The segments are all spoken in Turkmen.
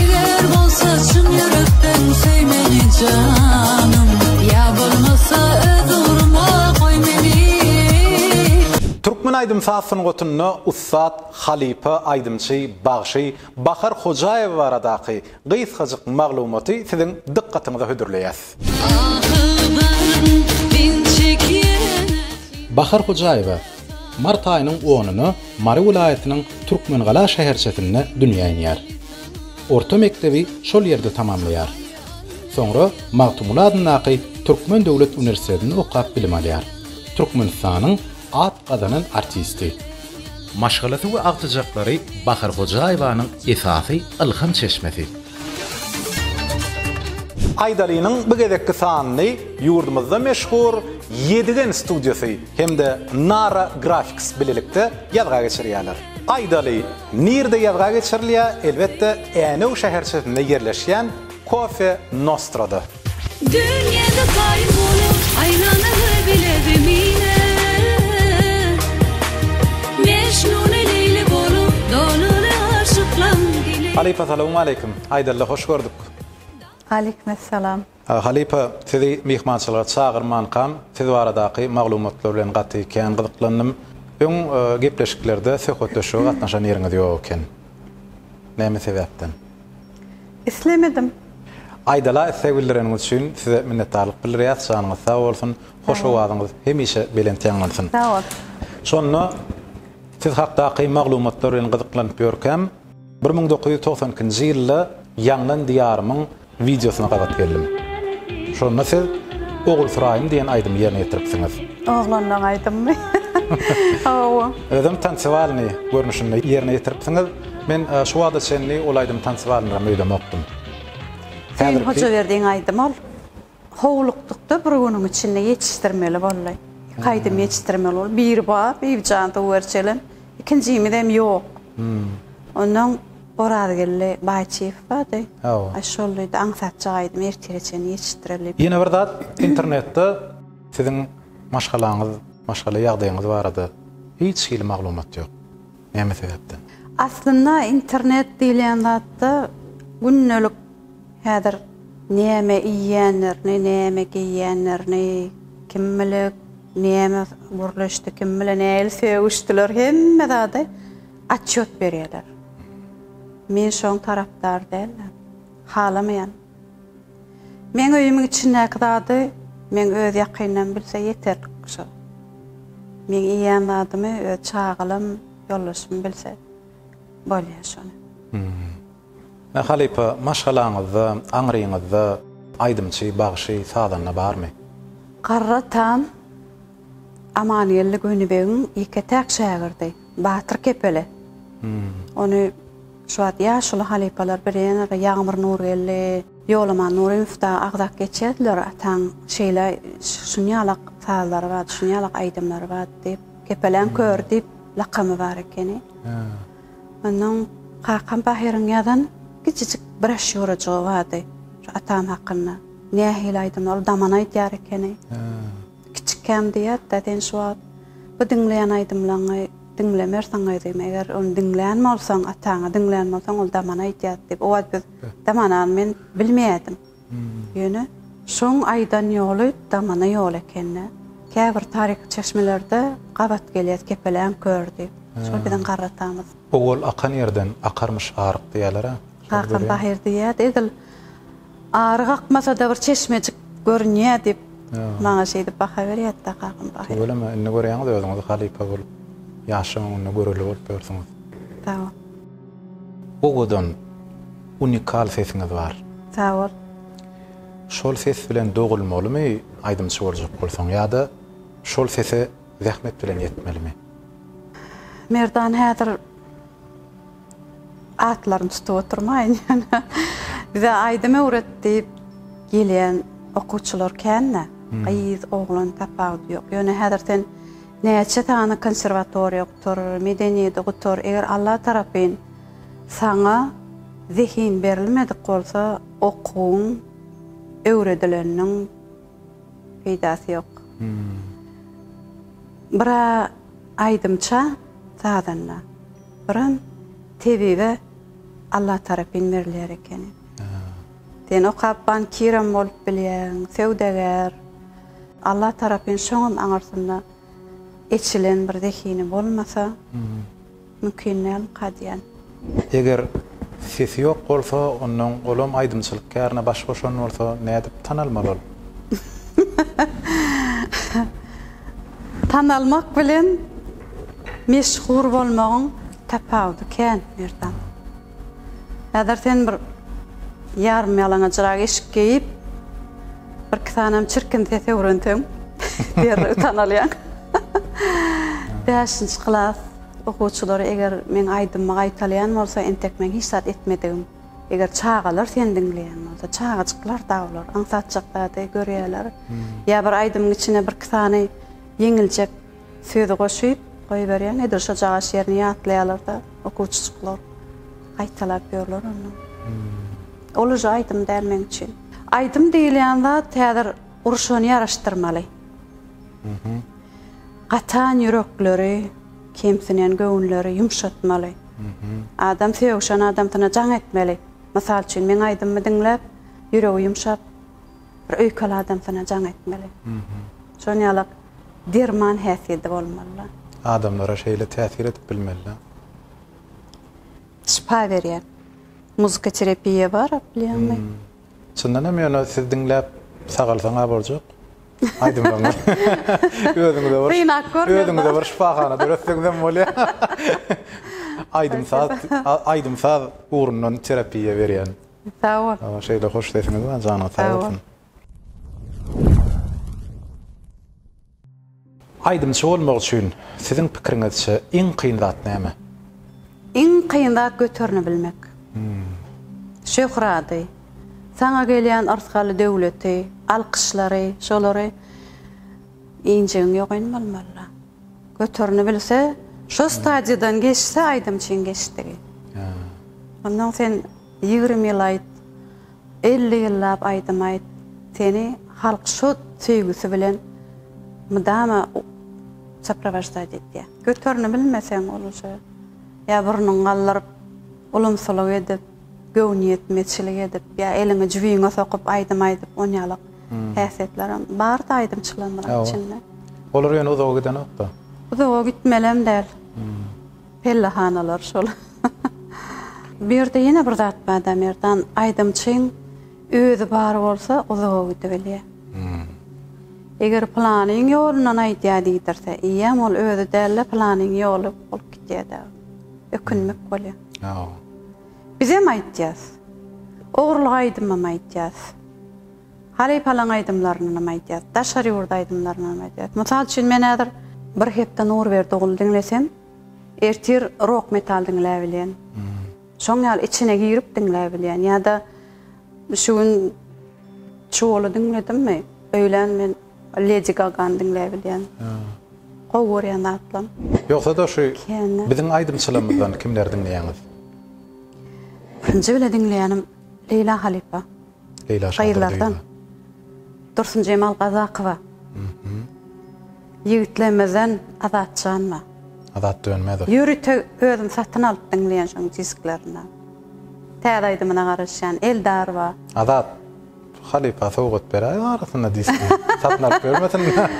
Eger bolsa çyn ýürekden söý meni janym Ýa bolmasa öz ugruma goý meni. Türkmen aýdym-saz sungatynda ussat, halypa aýdymçy, bagşy Bahar Hojaýewa baradaky gysgajyk maglumaty siziň dykgatyňyza hödürleýäs. Ahy baryn, diň çekýän ähli. Bahar Hojaýewa, Mart aýynyň onuna Mary welaýatynyň Türkmengala şäherçesinde dünýä inýär. Orta mekdebi şol ýerde tamamlaýar. Soňra Magtymguly adyndaky Türkmen döwlet uniwersitetinde okap bilim alýar. Türkmenistanyň at gazanan artisti. Maşgalasy we agtyjaklary Bahar Hojaýewanyň esasy ylham çeşmesi. Aýdalynyň bu gezekki sanyny ýurdumyzda meşhur Ýedigen studiýasy hem-de Nara Graphics bilelikde ýazga geçirýärler. Aýdaly, nirde ýazga geçirilýär, elbetde, Änew şäherçesinde ýerleşýän Kofe Nostrada. Dünýäde kaýym bolup aýlanaly bile zemine Mejnuny Leýli bolup dolaly aşyklaň dile. Halypa salawmaleýkim! Aýdaly hoş gördük. Aleýkumessalam. Halypa, sizi myhmançylyga çagyrmankam, siz baradaky maglumatlar bilen gaty kän gyzyklandym. Öň gepleşiklerde söhbetdeşlige gatnaşan ýeriňiz ýok eken. Näme sebäpden? Islemedim. Aýdala isleg bildireniňiz üçin size minnetdarlyk bildirýäs. Janyňyz sag bolsun. Hoş owazyňyz hemişe belent ýaňlansyn. Sag bol. Şonda siz hakdaky maglumatlar bilen gyzyklanyp ýörkäm, bir müň dokuz ýüz togsan ikinji ýylda Ýaňlan diýarymyň Wideosyna gabat geldim. Şonda siz Ogulsuraýym diýen aýdymy ýerine ýetiripsiňiz. Oglanlaň aýdymymy? Hawa. Özem tansewalyny görnüşinde ýerine ýetiripsiňiz. Men şu wagta çenli ol aýdymy tansewalynyram öýdemokdym. Hüseýin Hojaberdiň aýdymy ol. Howlukdykda bir günüň içinde ýetişdirmeli boldy. Iki aýdym ýetişdirmeli boldy. Biri bar, Bibijan töwerçelim. Ikinjimizem ýok. Ondan Orazgeldi Baýçyýew bardy. Aý şol diýdi, aňsatjak aýdym ertire çenli ýetişdireli. Ýene bir zat, internetde siziň maşgalaňyz, maşgala ýagdaýyňyz barada hiç hili maglumat ýok. Näme sebäpden? Aslynda internet diýilýän zatda gündelik Häzir näme iýýänlerini, näme geýýänlerini kim bilek, näme gürleşdi, kim bilen nähili sögüşdiler, hemme zady otçýot berýärler. Men şoň tarapdary däldim, halamaýan. Meň öýümiň içindäki zady meň öz ýakynlarym bilse ýeterlik şo. Meň iýýän zadymy öz çagalarym, ýoldaşym bilse bolýar şony. Mä halypa, maşgalaňyzda, aňryňyzda aýdymçy, bagşy, sazanda barmy? Garry Tan Amangeldi Gönübegiň ýeke-täk şägirdi, Batyr Kepeli. Ony şu wagt ýaşuly halypalar bilýändir, Ýagmyr Nurgeldi, Ýolaman Nurymow dagy agzap geçýärdiler, Ataň şeýle şunýalak sazlary bardy, şunýalak aýdymlary bardy diýip, Kepeläň köri diýip lakamy bar ekeni. Onnoň kakam Bahyryň ýazan kiçijik broşýurajygy bardy, şu atam hakynda. Nähili aýdym, ol daman aýdýar ekeni. Kiçikäm diýýärdi-de, Sen şu wagt bu diňleýän aýdymlaňy diňlemersiň gyzym, eger ony diňlän bolsaň, ataňy diňlän bolsaň, ol daman aýdýardy diýip. O wagt biz damanany men bilmeýärdim. Ýöne şoň aýdan ýoly damana ýol ekeni. Käbir taryhy çeşmelerde gabat gelýär kepeläň kör diýip. Şol biziň garratamyz. Owal akan ýerden akarmyş aryk diýýäler-ä. Akan bahyr diýýärdi. Edil aryk akmasa-da bir çeşmejik görünýär diýip, maňa şeýdip baha berýärdi-de kakam bahyr. Tüweleme, indi görýäňiz özüňiz halypa bolup, ýaşyň öňünde göreli bolup ýörsüňiz. Sag bol. Owadan, unikal sesiňiz bar. Sag bol. Şol ses bilen dogulmalymy aýdymçy boljak bolsaň ýa-da şol sese zähmet bilen ýetmelimi? Merdan häzir atlaryny tutup oturmaýyn ýöne bize aýdym öwret diýip gelýän okuwçylar kän-dä. Gyz, oglan tapawudy ýok. Ýöne häzir sen näçe sany konserwatoriýa Gutar, medeniýeti gutar, eger Alla tarapyn saňa zehin berilmedik bolsa, okuwyň, öwredileniň peýdasy ýok. Bir-ä aýdymça, sazanda, birem tebibe Alla tarapyn berilýär ekeni. Sen okap bankirem bolup bilýäň, söwdagär. Alla tarapyn şoňam aňyrsynda. Eçilen bir zehini bolmasa mümkin däl ka diýen. Eger sesi ýok bolsa ondan olam aýdymçylyk kärine baş goşan bolsa nädip tanalmaly ol? Tanalmak bilen meşhur bolmagyň tapawudy kän Merdan. Häzir sen bir ýarym ýalaňajrak eşik geýip, birki sanem çirkin ses öwrenseň, derrew tanalýaň. Bäşinji klas okuwçylary eger meň aýdymymy gaýtalaýan bolsa, entek meň hiç zat etmedigim. Eger çagalar seni diňleýän bolsa, çagajyklar-da olar, aňsatjak zady görýärler. Ýa bir aýdymyň içine birki sany ýeňiljek Sözi goşup goýberýän nedir şo jagaş ýerini ýatlaýalarda okuwçyjyklar gaýtalap ýörler onda. Ol uje aýdym däl meň üçin. Aýdym diýilýän zat häzir urşuny ýaraşdyrmaly. Gatan ýürekleri, kemsinen göwünleri ýumşatmaly. Adam söýüşen adamsyna jaň etmeli. Mysal üçin meň aýdymymy diňläp ýüregi ýumşap. Bir öýkel adam sana jaň etmeli. Şon ýalak derman häsiýedi bolmalyla. Adamlara şeýle täsir edip bilmelila. Şypa berýär. Muzika terepiýa bar bilýäňmi? Çyndan hem ýöne siz diňläp sagalsaň a boljak. Aýdymlaryňyz. Özüňize bir. Synap görmeli. Özüňize bir şypahana döretseňizem bolýa. Aýdym saz, aýdym saz ugrundan terapiýa berýän. Sag bol. Sag bol, şeýle hoş sesiňiz bar, janyňyz sag bolsun. Aýdymçy bolmak üçin siziň pikiriňizçe iň kyn zat näme? Iň kyn zat göterini bilmek. Şöhrady, saňa gelýän yrsgaly döwleti, alkyşlary, şolary injegiň ýogaýnmalymalla. Göterini bilse, şo stadiýadan geçse aýdymçyň geçdigi. Ondan sen ýigrimi ýyl aýt, elli ýyllap aýdym aýt, seni halk şo söýgüsi bilen mydama soprowaždad edýär. Göterini bilmeseň, olja, ýa burnuňy galdyryp, ulumsylyk edip, Göwnüýetmezçilik edip ýa eliňi jübiňe sokup aýdym aýdyp onýalak häsiýetlerem barda aýdymçylarymyzyň içinde. Olar ýöne uzaga gidenokda. Uzaga gitmelem däl. Pellehanalar şol. Bu ýerde ýene bir zat barda Merdan, aýdymçyň özi bar bolsa uzaga gidibilýär. Eger pylanyň ýolundan aýdýar diýdirse, eýýäm ol özi däl-de pylanyň ýoly bolup gidýärdi. Ökünmek bolýar. Ýa. Bizem aýtýas. Ogurlyk aýdymam aýtýas. Halypalaň aýdymlarynam aýtýas. Daşary ýurt aýdymlarynam aýtýas. Mysal üçin men häzir bir hepde Nurberdi oguly diňlesem, ertir rok metal diňläp bilýän. Şoň ýaly içine girip diňläp bilýän. Ýa-da şu gün Çuwaly diňledimmi, öýlän men Ledi Gagany diňläý bilýän. Gowy görýän zatlam. Ýogsada şu biziň aýdymçylarymyzdan kimleri diňleýäňiz? Birinji bile diňleýänim Leýla halypa. Leýla şadyr. Gyzlardan. Dursunjemal Gazakowa. Ýigitlerimizden Azat Janma. Azat Dönmezow. Ýörite özüm satyn alyp diňleýän şoň disklerini. Täze aýdymyna garaşýan Eldarwa. Azat. Halypa sowgat beräýiň arasynda diski satyn alyp bermesinler.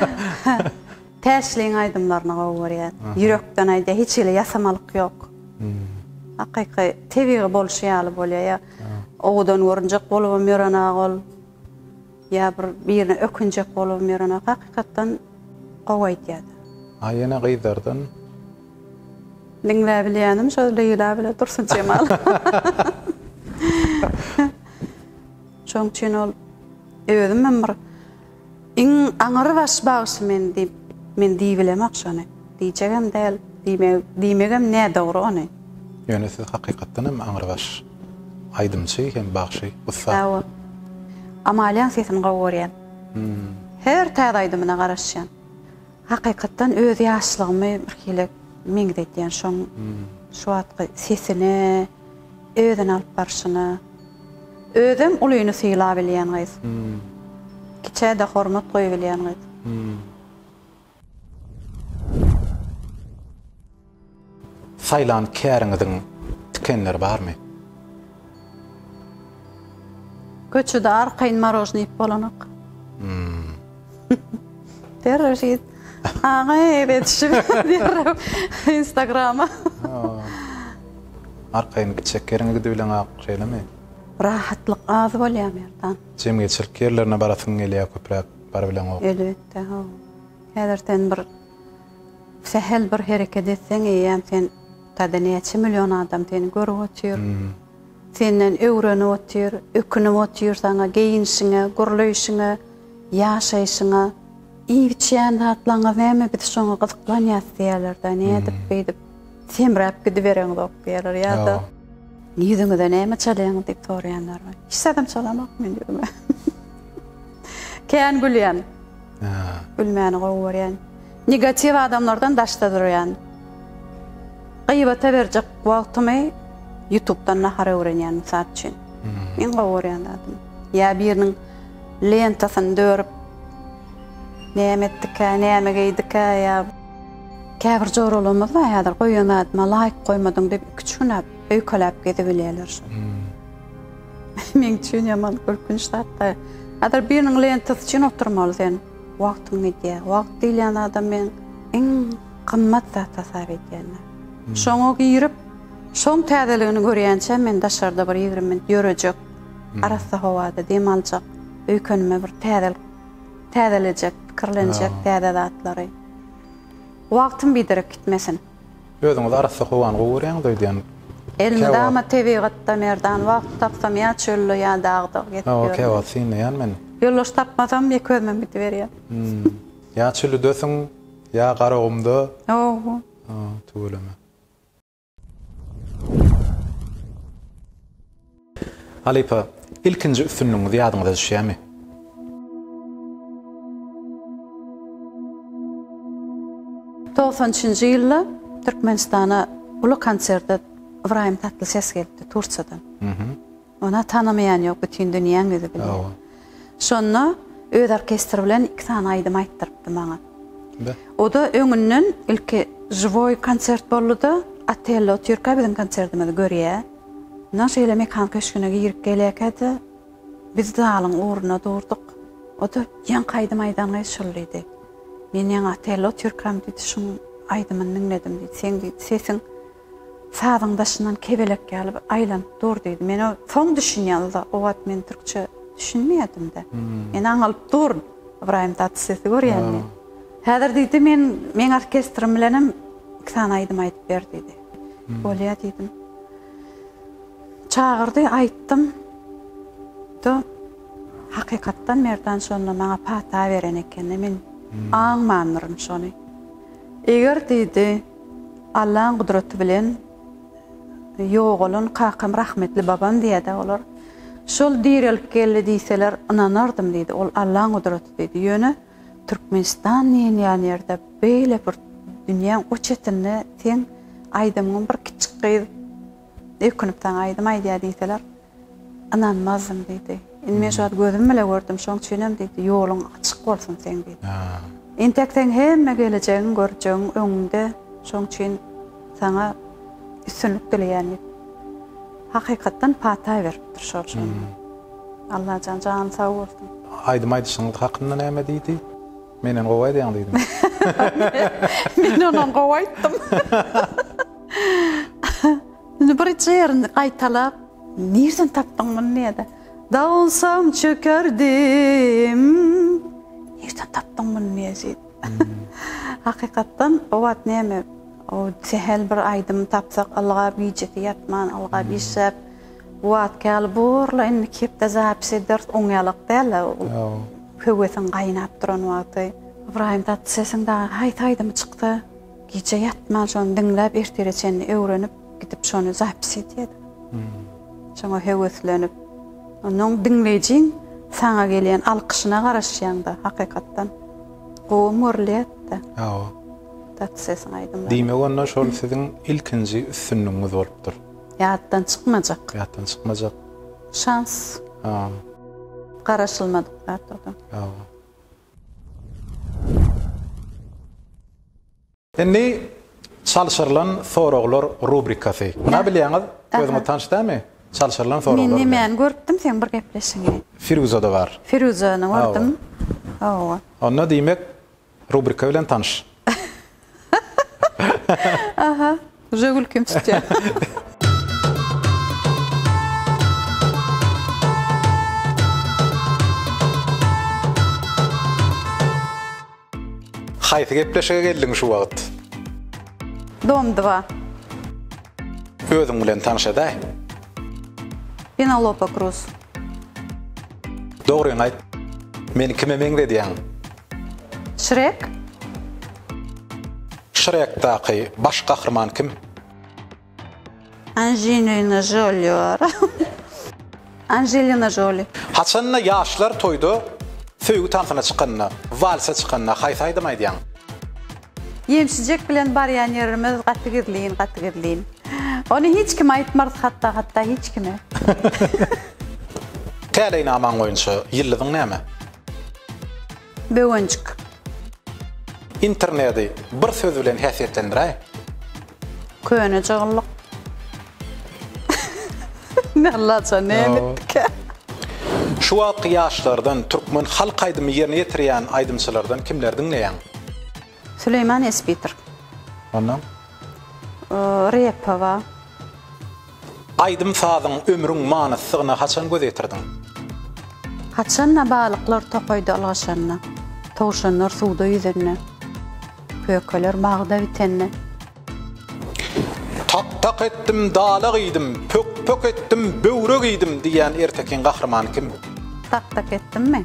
Täşliň aýdymlaryny gowy görýän. Ýürekden aýdýar, hiç hili ýasamalyk ýok. Hakyky, tebigy bolşy ýaly bolýar. Ýa owadan görünjek bolubam ýörenok ol. Ýa bir birine ökünjek bolubam ýörenok. Hakykatdan gowy aýdýar. A ýene gyzlardan? Diňläbilýänim şo Leýla bilen Dursunjemal. Şonuň üçin ol özüm hem bir iň aňrybaş bagşy men diýip, men diýibilemok şony. Diýjegem däl, diýmegi, diýmegem nädogry ony. Ýöne siz hakykatdan hem aňrybaş aýdymçy hem bagşy, ussat. Hawa. Amaliýaň sesini gowy görýän. Her täze aýdymyna garaşýan. Hakykatdan öz ýaşlygymy birhili meňzedýän şoň şu wagtky sesine. Özüni alyp barşyna. Özem ulyny sylabilýän gyz. Kiçä-de hormat goýubilýän gyz. Saýlan käriňiziň tikenleri barmy? Köçede arkaýyn marožny iýip bolanok. Terrorşit. Aga eretişip diýerim Instagrama. Arkaýyn gitjek ýeriňe gidibileň ak şeýlemi? Rahatlyk az bolýar Merdan. Jemgyýetçilik ýerlerine barasyň gelýär köpräk barybileňok. Elbetde haw. Häzir sen bir sähel bir hereket etseň eýýäm sen tada näçe million adam seni görüp otyr. Senden öwrenip otyr, ökünip otyr saňa geýinişiňe, gürleýşiňe, ýaşaýşyňa. Iýip-içýän zatlaryňyz näme biz şoňa gyzyklanýas diýerler-dä, nädip beýdip semräp gidibereňzok diýerler ýa-da ýüzüňize näme çalýaňyz diýip soraýanlar bar. Hiç zadam çalamok men ýüzüme. Kän gülýän. Gülmäni gowy görýän. Negatiw adamlardan daşda durýan. Gybata berjek wagtymy ýutubdan nahar öwrenýän mysal üçin. Iň gowy görýän zadym. Ýa biriniň lentasyny dörüp näme etdikä, näme geýdikä ýa käbir joralygymyz bar häzir goýan zadyma laýk goýmadyň diýip iki-üç günläp öýkeläp gezibilýärler. Meň üçin ýaman gülkünç zatda. Häzir biriniň lentasy üçin oturmaly sen. Wagtyň gidýär. Wagt diýilýän zada men iň gymmat zat hasap edýän. Şoňa girip, şoň täzeligini görýänçä men daşarda bir ýigrimi minut ýörejek, arassa howada dem aljak, öýkenime bir täzelik täzelejek, pikirlenjek täze zatlary. Wagtym biderek gitmesin. Özüňizi arassa howan gowy görýäňiz öýdýän. Elmydama tebigatda Merdan wagt tapsam ýa çölde ýa dagda gezip ýörün. Hawa kewagt synlaýan men. Ýoldaş tapmasam ýeke özümem gidiberýän. Ýa çülidesiň ýa garagumda. Hawa. Tüweleme. Halypa, ilkinji üstünligiňiz ýadyňyza düşýärmi? Togsan üçünji ýylda Türkmenistana uly konserde Ybraýym Tatlyses gelipdi Tursiýadan. Ony tanamaýan ýok, bütin dünýäň ýüzi bilýär. Şonda öz orkestri bilen iki sany aýdym aýtdyrypdy maňa. Be. O-da öňünden ilki žiwoý konsert boldy-da, Otello otyrka biziň konsertimizi görýä. Mundan şeýle Mekan köşgüne girip gelýärkä-de, biz zalyň ugruna durduk. O-da, Ýaňky aýdym aýdan gyz şul diýdi. Men ýaňy Otello otyrkam diýdi, şuň aýdymyny diňledim diýdi. Seň diýdi, sesiň Sazyň daşyndan kebelek ýaly bir aýlanyp dur diýdi. Men o soň düşünýän uza o wagt men türkçe düşünmeýädimde. Men aňalyp durun. Ybraýym Tatys sesi görýän men. Häzir diýdi men meň orkestrim bilenem iki sany aýdym aýdyp ber diýdi. Bolýa diýdim. Çagyrdy aýtdym. Da hakykatdan Merdan şonda maňa pata beren ekeni men aňmandyryn şony. Eger diýdi Allaň gudraty bilen ýogalan kakam rahmetli babam diýýärdi olar. Şol direlip geldi diýseler ynanardym diýdi. Ol Allaň gudraty diýdi. Ýöne Türkmenistan diýilýän ýerde beýle bir dünýäň o çetinde seň aýdymyňy bir kiçjik gyz ökünip saňa aýdym aýdýar diýseler, Ynanmazdym, diýdi. Indi men şu wagt gözüm bile gördüm, şoň üçinem, diýdi, ýoluň açyk bolsun seň, diýdi. Entek seň hemme gelejegiň, görjegiň öňüňde, şoň üçin saňa üstünlik dileýän, diýip, hakykatdan pata beripdir şol şonda. Allajan jany sag bolsun. Aýdym aýdyşyňyz hakynda näme diýdi? Menden gowy aýdýaň diýdimi? Men ondan gowy aýtdym. Indi birinji ýerini gaýtalap, Nirden tapdyň muny diýýä-de. Dawulsam çökerdim. Nirden tapdyň muny diýýä jigit. Hakykatdan o wagt näme, o sähel bir aýdymy tapsak, ylgap gijesi ýatman, ylgap işläp, bu wagtky ýaly borla indi iki hepde zapis ederis, oňýalak däl-ä ol höwesiň gaýnap duran wagty. Ybraýym Tatysesiň dagy haýsy aýdymy çyksa, Gije ýatman şony diňläp ertire çenli öwrenip gidip şony zapis edýädim. Şoňa höweslenip. Onnoň diňleýjiň saňa gelýän alkyşyna garaşýaňda hakykatdan gowy görülýärdi. Hawa. Taty sesiň aýdymlary. Diýmek onda şol siziň ilkinji üstünligiňiz bolupdyr. Ýatdan çykmajak. Ýatdan çykmajak. Şans. Hawa. Garaşylmadyk zat o-da. Hawa. Indi çalşyrylan soraglar rubrikasy. Muny bilýäňiz, özüňiz tanyş dälmi? Çalşyrylan soraglar. Men nämäni görüpdim seň bir gepleşigiňi? Firuzada bar. Firuzany gördüm. Hawa. Onda diýmek rubrika bilen tanyş. Aha, uje gülkim tutýar. Haýsy gepleşige geldiň şu wagt? Domdwa. Özüň bilen tanşadaý. Penalopa Kruz. Dogryňy aýt. Meni kime meňzedýäň? Şrek? Şrekdaky baş gahryman kim? Anžinina Žoli bar. Anželina Žoli. Haçanda ýaşlar toýda söýgi tansyna çykanda, walsa çykanda haýsy aýdym aýdýaň? Ýemşijek bilen barýan ýerimiz gaty gizlin, gaty gizlin. Ony hiç kime aýtmarys hatda, hatda hiç kime. Täleýnamaň boýunça ýyldyzyň näme? Böwenjik. Internedi bir söz bilen häsiýetlendiräý. Köne jygyllyk. Ne laja ne emitdikä. Şu wagtky ýaşlardan türkmen halk aýdymy ýerine ýetirýän aýdymçylardan kimleri diňleýäň? Süleýman Espiter. Ondan. Repowa. Aýdym-sazyň, ömrüň manysyzyna haçan göz ýetirdiň? Haçan-da balyklar tokaýda ylgaşanda, towşanlar suwda ýüzende, pökeler bagda bitende. Tak-tak etdim, dala giýdim, pök-pök etdim, böwre giýdim diýýän ertekiň gahrymany kim? Tak-tak etdimmi?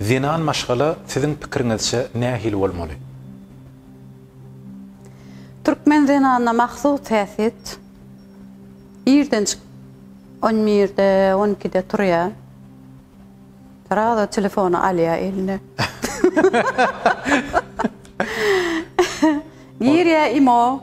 Zenan maşgala siziň pikiriňizçe nähili bolmaly? Türkmen zenanyna mahsus häsiýet. Irden çykyp on birde, on ikide turýar. Srazo telefony alýar eline. Girýär imo.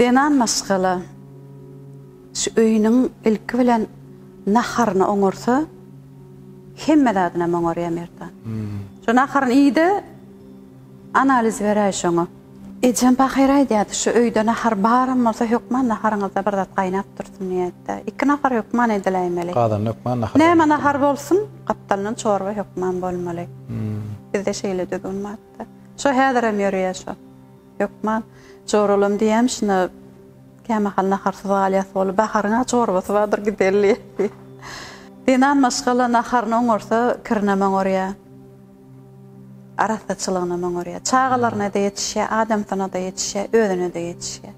Zenan maşgala şu öýüniň ilki bilen naharyny oňarsa, hemme zadynam oňarýar Merdan. Şu naharyny iý-de, analiz beräý şoňa. Ejem pahyr aýdýardy, şu öýde nahar baram bolsa, hökman naharyňyzda bir zat gaýnap dursun diýýärdi-de. Iki nahar hökman ediläýmeli. Gazanda hökman nahar bolmaly. Näme nahar bolsun, gapdalyndan çorba hökman bolmaly. Bizde şeýle düzgün bar-da. Şo häzirem ýörýär şo. Hökman joralam diýýämiş, şunda kämahal naharsyz galýas bolup, Baharyň-a çorbasy bardyr, gideli diýýär. Zenan maşgala naharyny oňarsa, kirinem oňarýar. Arassaçylygynam oňarýar. Çagalaryna-da ýetişýär, adamsyna-da ýetişýär, özüne-de ýetişýär.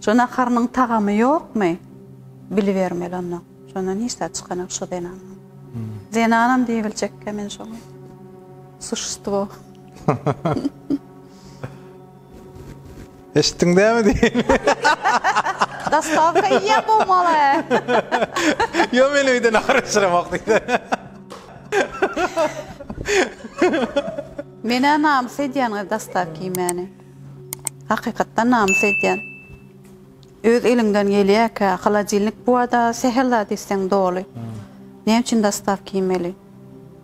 Şu naharynyň tagamy ýokmy, bilibermeli onda. Şondan hiç zat çykanok şu zenandan. Zenanam diýibiljekkä men şoňa. Suşstvo. Eşitdiň dämi diýip. Dostawka iýen bolmaly. Ýok men öýde nahar bişiremok diýdi. Menä namys edýän gyz dostawka iýmäni. Hakykatdan namys edýän. Öz eliňden gelýärkä, holodilnik bu-a-da sähel zat isseň doly. Näme üçin dostawka iýmeli?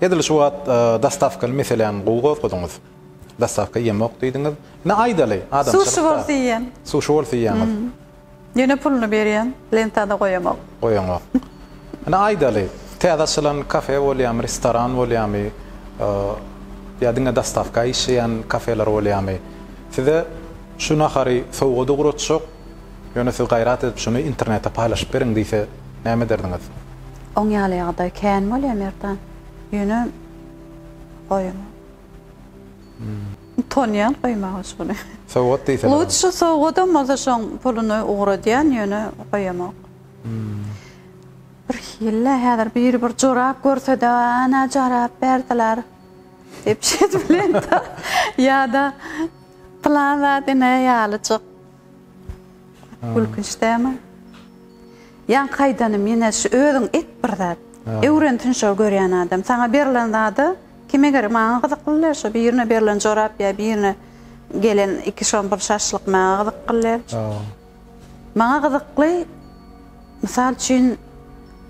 Edil şu wagt dostawkaly meseläni gowy gozgadyňyz. Dostawka ýemok diýdiňiz. Ine aýdaly, adamçylyk Sushi bolsa iýýän. Sushi bolsa iýýäňiz. Ýöne puluny berýän, lentada goýaňok. Goýaňok. Ine aýdaly, täze açylan kafe bolýamy, restoran bolýamy, ýa diňe dostawka işleýän kafeler bolýamy, size şu nahary sowgat ugratjak, ýöne siz gaýrat edip şuny internetde paýlaşyp beriň diýse näme ederdiňiz? Oň ýaly ýagdaý kän bolýa Merdan. Ýöne goýamok. Utanýan goýmaga şony. Sowgat diýseler. Lutşy sowgadam bolsa şoň puluny ugradýan ýöne goýamok. Bir hille häzir biri bir jorap görsede ana jorap berdiler diýip şeýdip bilen ýada pylan zat ine ýalyjyk. Gülkünç dälmi? Ýaňky aýdanym ýene şu özüň et bir zat. Öwrensin şo görýän adam. Saňa berlen zada kime gerek? Maňa gyzyklylar şo birine berlen jorap ýa birine gelen iki şompur şaşlyk maňa gyzyklylar. Maňa gyzykly Mysal üçin,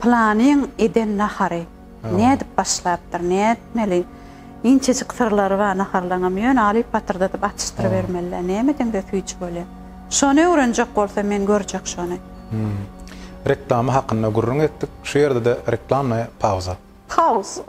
Pylanyň eden nahary nädip başlapdyr, nätmeli? Inçejik syrlary bar naharlaryňam, ýöne alyp patyrdadyp atyşdyrybermeli-dä. Nämeden bes süýji bolýar? Şony öwrenjek bolsa men görjek şony. Reklama hakynda gürrüň etdik. Şu ýerde-de reklamnaýa pauza. Pauza.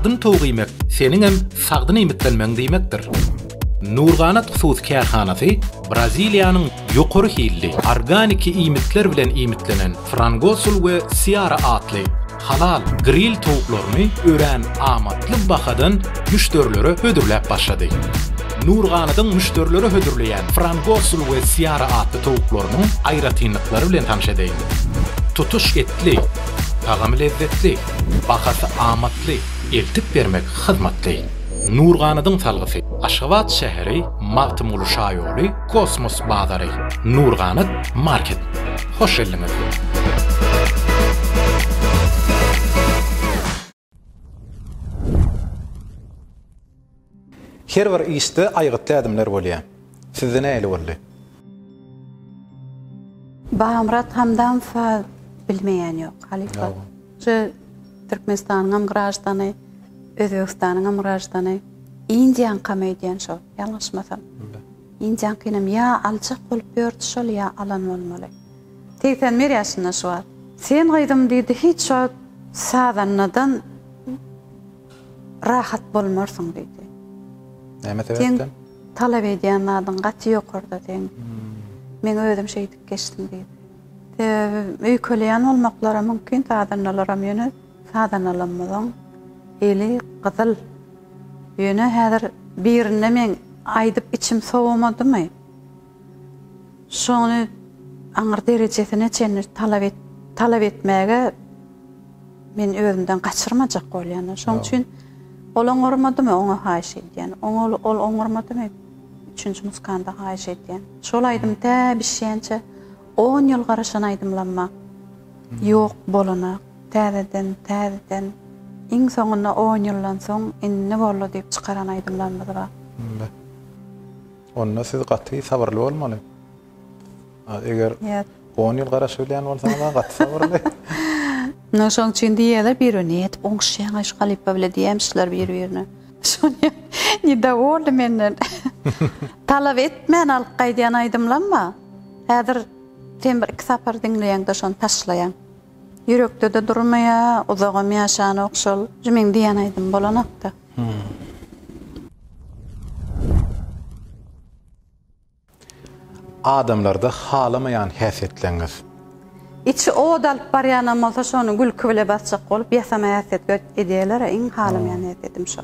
sagdyn towuk iýmek seniň hem sagdyn iýmitlenmegiň diýmekdir. Nurganat hususy kärhanasy Braziliýanyň ýokary hilli organiki iýmitler bilen iýmitlenen Frangosul we Siara atly halal gril towuklaryny örän amatly bahadan müşderilere hödürläp başlady. Nurganadyň müşderilere hödürleýän Frangosul we Siara atly towuklarynyň aýratynlyklary bilen tanyş edeliň. Tutuş etli, tagamy lezzetli, bahasy amatly, eltip bermek hyzmatly. Nurganadyň salgysy. Aşgabat şäheri, Magtymguly şaýoly. Kosmos bazary Nurganat market hoş geldiňiz. Her bir işde aýgytly ädimler bolýar. Sizde nähili boldy? Bagmyrat Hamdamowa bilmeýän ýok, halypa. Şu Türkmenistanyňam graždany, Özbegistanyňam graždany, Indiýaňkam öýdýän şo, ýalňyşmasam. Indiýaňkynam ýa aljak bolup ýördi şol, ýa alan bolmaly. Segsen bir ýaşynda şu wagt. Sen gyzym diýdi, hiç wagt sazandadan rahat bolmarsyň diýdi. Näme sebäpden? Seň talap edýän zadyň gaty ýokarda seň. Men özüm şeýdip geçdim diýdi. Sebäbi öýkeleýän bolmaklary mümkin sazandalaram ýöne sazandalarymyzyň eli gyzyl. Ýöne häzir birinde men aýdyp içim sowamadymy. Şony aňyr derejesine çenli talap et talap etmäge men özümden gaçyrmajak bolýan. Şoň üçin ol oňarmadymy oňa haýyş edýän. Oňa ol oňarmadymy. Üçünji muskanda haýyş edýän. Şol aýdym tä bişýänçä on ýyl garaşan aýdymlamma ýok bolanak täzeden täzeden iň soňunda on ýyldan soň indi boldy diýip çykaran aýdymlarymyz bar. Onda siz gaty sabyrly bolmaly. Eger on ýyl garaşyp bilýän bolsaňyz-a gaty sabyrly. Ine şoň üçin diýýärler, biri ne edip oňuşýaň-aý şu halypa bile diýýämişler bir-birine. Şony nidowordy menden. Talap etmän alyp gaýdýan aýdymlamma. Häzir sen bir-iki sapar diňleýäň-de şony taşlaýaň. Ýürekde-de durmaýar, uzagam ýaşanok şol. Şu meň diýýän aýdymym bolanok-da. Adamlarda halamaýan häsiýetleňiz. Içi owada alyp barýanam bolsa şony gülki bile basjak bolup ýasama häsiýetge edýäler-ä iň halamaýan häsiýetim şo.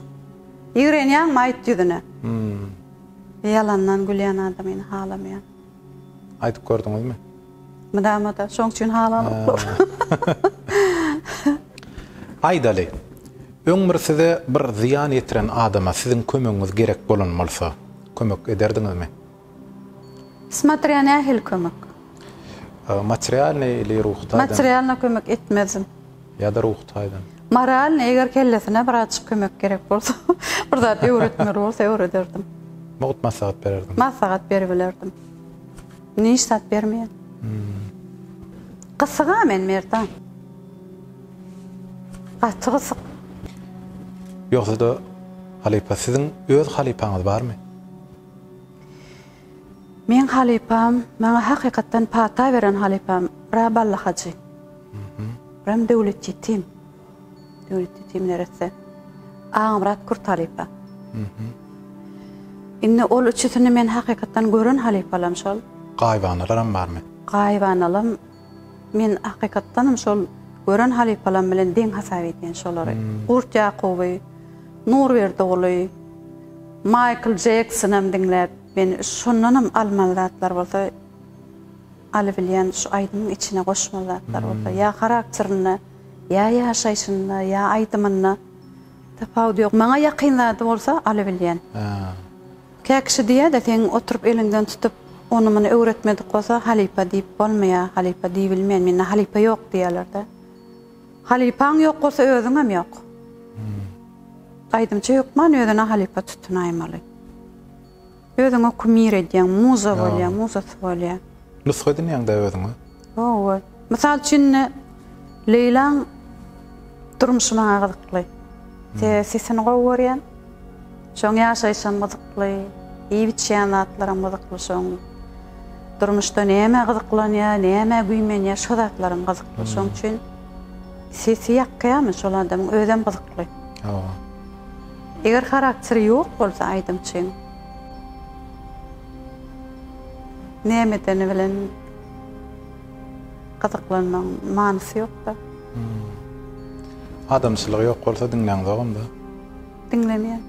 Ýigrenýäňmi aýt ýüzüne. Ýalandan gülýän adamyny halamaýan. Aýdyp gördüňizmi? Mydama-da şoň üçin halanoklar. Aýdaly, öň bir size bir zyýan ýetiren adama siziň kömegiňiz gerek bolan bolsa, Kömek ederdiňizmi? Smatrýa nähili kömek. Materialnyý ili ruhy taýdan. Materialnyý kömek etmezdim. Ýa-da ruhy taýdan. Moralnyý eger kellesine birazjyk kömek gerek bolsa, bir zat öwretmeli bolsa öwrederdim. Mugt maslahat bererdim. Maslahat beribilerdim. Indi hiç zat bermeýän. Gysyga men Merdan. Gaty gysyk. Ýogsada halypa siziň öz halypaňyz barmy? Meň halypam, maňa hakykatdan pata beren halypam bra Bally Hajy. Bram Döwlet Ýetim. Döwlet Ýetim neresse. Agamyrat Kurt halypa. Indi ol üçüsini men hakykatdan gören halypalam şol. Gaýybanalar hem barmy? Gaýybanalam Men hakykatdanam şol gören halypalam bilen deň hasap edýän şolary. Gurt Ýakuby, Nurberdi Guly, Maýkl Jeksonam diňläp, men şondanam almaly zatlar bolsa, alybilýän şu aýdymyň içine goşmaly zatlar bolsa, ýa harakterinde, ýa ýaşaýşynda, ýa aýdymynda tapawudy ýok. Maňa ýakyn zady bolsa alybilýän. Kä kişi diýýä-de, seň oturyp eliňden tutup, ony-muny öwretmedik bolsa, halypa diýip bolmaýar, halypa diýibilmeýär, mende halypa ýok diýýärler-dä. Halypaň ýok bolsa, özüňem ýok. Aýdymçy hökman özüne halypa tutunaýmaly. Özüňe kumir edýäň, muza bolýar, muzasy bolýar. Nusga edinýäň-dä özüňe. Hawa. Mysal üçin indi Leýlaň durmuşy maňa gyzykly. Sebäbi sesini gowy görýän. Şoň ýaşaýşam gyzykly, iýip-içýän zatlaram gyzykly şoň. Durmuşda nämä gyzyklanýar, nämä güýmenýär şo zatlaram gyzykly. Şoň üçin sesi ýakýamy şol adamyň özem gyzykly. Hawa. Eger harakteri ýok bolsa aýdymçyň nämedeni bilen Gyzyklanmagyň manysy ýokda. Adamçylygy ýok bolsa diňläňzogam-da. Diňlemeýän.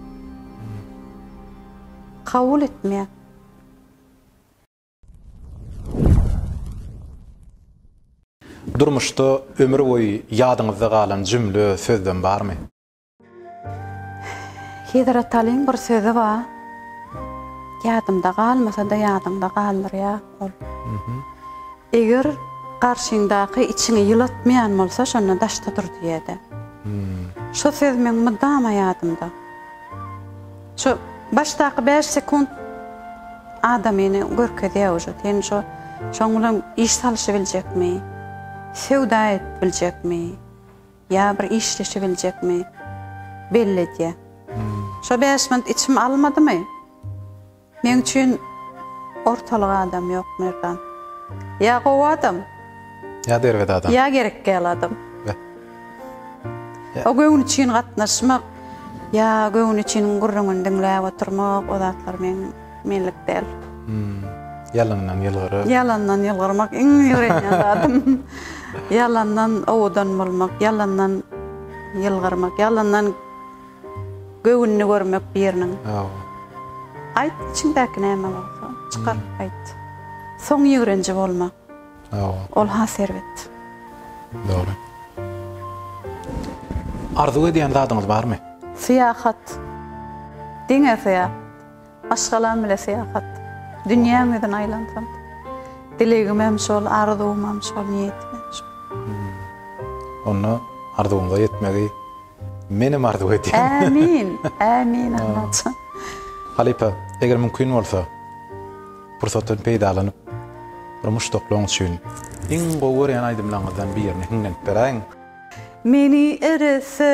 Kabul etmeýän. Durmuşda ömür boýy ýadyňyzda galan jümle, sözlem barmy? Hezret Alyň bir sözi bar. Ýadymda galmasa-da ýadyňda galdyrýar ol. Eger garşyňdaky içiňi ýylatmaýan bolsa, şonda daşda dur diýýär-de. Şo söz meň mydama ýadymda. Şo başdaky bäş sekunt adamyny görkezýär uje. Sen şo şoň bilen iş salyşybiljekmi? Söwda edip biljekmi? Ýa bir işleşibiljekmi belli edýä. Şo bäş minut içim almadymy? Meň üçin ortalyk adam ýok Merdan. Ýa gowy adam. Ýa derbet adam. Ýa gerekgäl adam. O göwün üçin gatnaşmak, ýa göwün üçin gürrüňini diňläp oturmak o zatlar meň. Menlik däl. Ýalandan ýylgyryp. Ýalandan ýylgyrmak iň ýörenýän zadym. Ýalandan owadan bolmak, ýalandan ýylgyrmak, ýalandan göwnüni görmek biriniň. Hawa. Aýt, içiňdäki näme bolsa, çykaryp aýt. Soň ýigrenji bolma. Hawa. Ol has erbet. Dogry. Arzuw edýän zadyňyz barmy? Syýahat. Diňe syýahat. Maşgalam bile syýahat. Dünýäň ýüzüni aýlansam. Dilegimem şol, arzuwymam şol, niýetimem şol. Onda arzuwymyza ýetmegi menem arzuw edýän. Ämin, ämin Allajan. Halypa, eger mümkin bolsa, pursatdan peýdalanyp, bir muşdaklaň üçin iň gowy görýän aýdymlaryňyzdan birini hiňlenip beräýiň. Meni erese.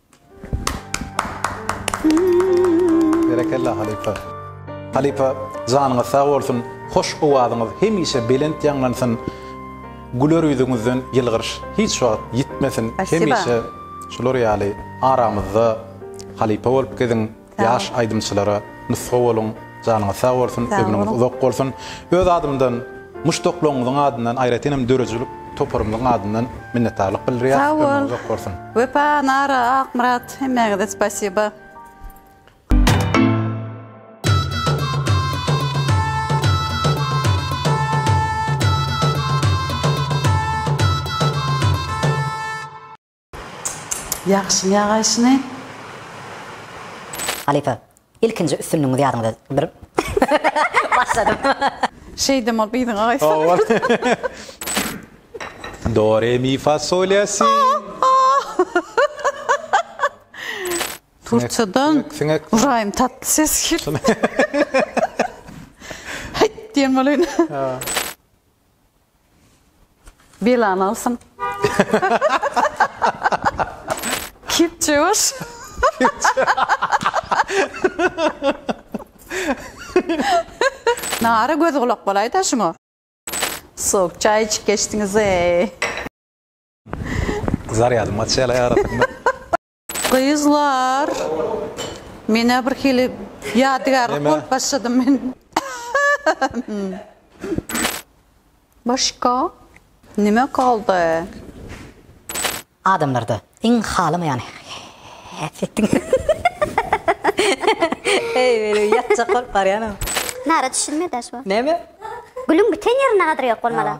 Berekella halypa. Halypa janyňyz sag bolsun, hoş owazyňyz hemişe belent ýaňlansyn, güler ýüzüňizden ýylgyryş hiç wagt ýitmesin, hemişe şular ýaly aramyzda halypa bolup geziň. Ýaş aýdymçylara nusga boluň. Janyňyz sag bolsun, ömrüňiz uzak bolsun. Öz adymdan, muşdaklaryňyzyň adyndan, aýratyn hem döredijilik toparymyzyň adyndan minnetdarlyk bildirýäs. Sag bol. Ömrüňiz uzak bolsun. Wepa, Nara, Akmyrat, hemmäňize spasiba. Ýagşyň ýagaýşyny. Halypa. Ilkinji üstünligiňiz ýadyňyza bir Başladym. Şeýdem ol biziň agaýsy. Do re mi fa sol ya si. Turçadan Ybraýym tatly ses geldi. Hyt diýen bolýan. Belany alsyn. Kepjebaş. Nara göz gulak bolaý da şuňa. Sok çaý içip geçdiňiz eý. Zarýadym açýala arasynda. Gyzlar menä bir hili ýadygärlik bolup başlady men. Başga nime galdy? Adamlarda iň halamaýan häsiýetiň. Heý meniň ýatjak bolup barýanym. Nara düşünme daş bu. Näme? Gülüň biten ýerinde gadyr ýok bolmaly.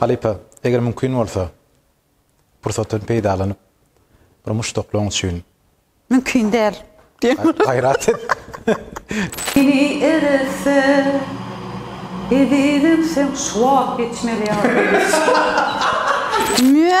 Halypa, eger mümkin bolsa, pursatdan peýdalanyp, bir muşdaklaň üçin. Mümkin däl, diýen bolar. Gaýrat et. Biri erelse, ezizim, sen şu wagt geçmeli ýaly. Mö!